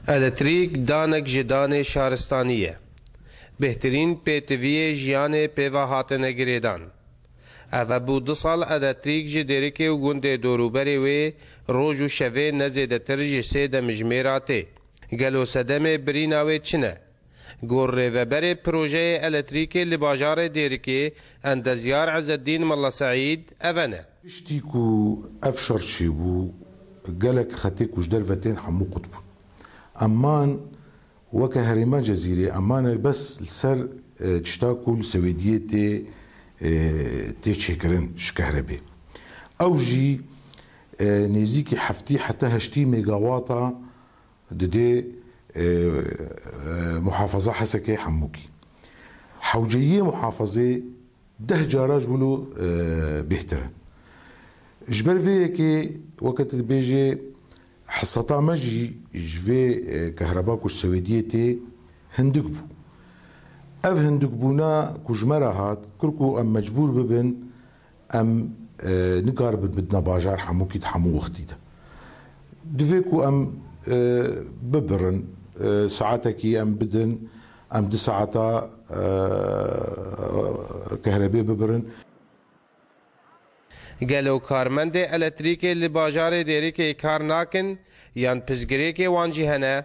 Eletrîk danek ji danê şaristanî ye. Bêhtirîn pêtiviyê jiyanê pêva hatine girêdan. Ev hebû du sal eletrîk ji dêrikê û gundê dorûberê wê roj û şevê ne zêdetir ji sê demjimêra tê. Gelo sedemê birîna wê çi ne? Gor rêveberê projeyê eletrîkê li bajarê Dêrikê endezyar Ezeddîn Mella Seîd eve ne. Piştî ku ev şer çêbû gelek xetê ku ji derve tên hemû qut bûn. Em man weke herêma Cezîrê em mane bes li ser tişta ku li Swêdiyê tê tê çêkirin ji kehrebê. Ew jî nêzîkî heftî heta heştî mêgawata Di dê Muhafaza Hesekê Hemûkî. Hewceyiyê muhafazê deh cara ji wilo bêhtir e. Ji ber vê yekê weke tu dibêjê hesata me jî ji vê kehreba ku ji Swêdiyê tê hindik bû. Ev hindikbûna ku ji me re hat kir ku em mecbûr bibin Em nikaribin bidina bajar hemûkî di hemû wextî de. Divê ku em bibirin. Saetekî em bidin, em du saeta kehrebê bibirin. Gelo karmendê eletrîkê li bajarê Dêrikê kar nakin yan piştgirêkê wan jî hene?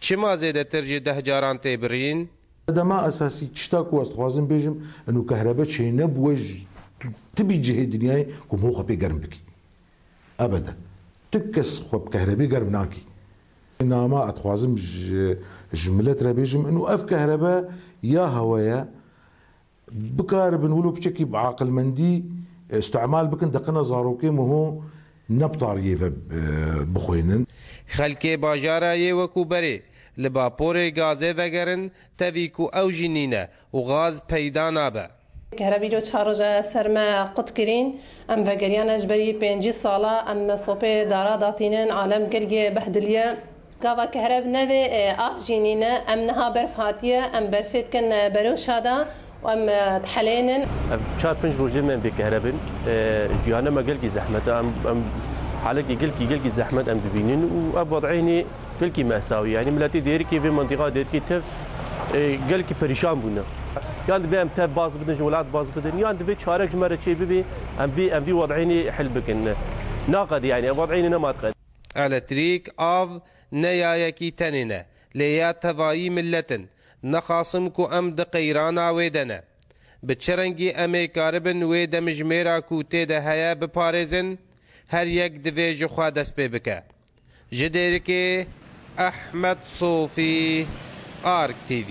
Çima zêdetir jî deh caran tê birîn? Sedema esasî, tişta ku ez dixwazim bêjim ino kehrebe çênebûwe ji tu ti bî cihê dinyayê ku min xwe pê germ bikî. Ebede. Tu kes xwe bi kehrebê germ nakî. Nama ez dixwazim ji ji milet re bêjim ino ev kehrebe ya hewe ye. Bikaribin wilo piçekî bi aqilmendî îstimal bikin deqina zarokê miho ne bi tariyê ve bixwênin. Xelkê bajara yê wekû berê li baporê gazê vegerin tevî ku ew jî nîne û gaz peyda nabe. Here vîro çar roj e ser me qut kirîn. Em vegeriyan e ji berî pêncî sal e. Em sopê dara datînin. Alem gelgê behdiliye. Gava ke herev nevê ax jî nîne. Em niha berf hatiye, em berfê dikin beroşa de û em dihelênin. Ev çar pinc rojê me bê ke herev in. Jiyana me gelkî zehmet e. Em em halekê gelkî gelkî zehmet em dibînin û ev wed eynî gelkî mesawî ye. Enî miletê dêrikê vê mintîqa dêrikê tev gelkî perîşan bûne. Yan divê em tev baz bidin ji welat baz bidin yan divê çarek ji me re çê bibê em vê em vî wed eynî hil bikin. Naqedî enî ev wed eynî nema diqedin. Eletrîk, av ne yayekî tenê ne, lê ya tevayî milet in. Nixwasim ku em di qeyrana wê de ne. Bi çi rengî em ê karibin wê demijmêra ku tê de heye biparêzin? Her yek divê ji xwe dest pê bike. Ji Dêrikê, Ehmed Sofî, ArkTV.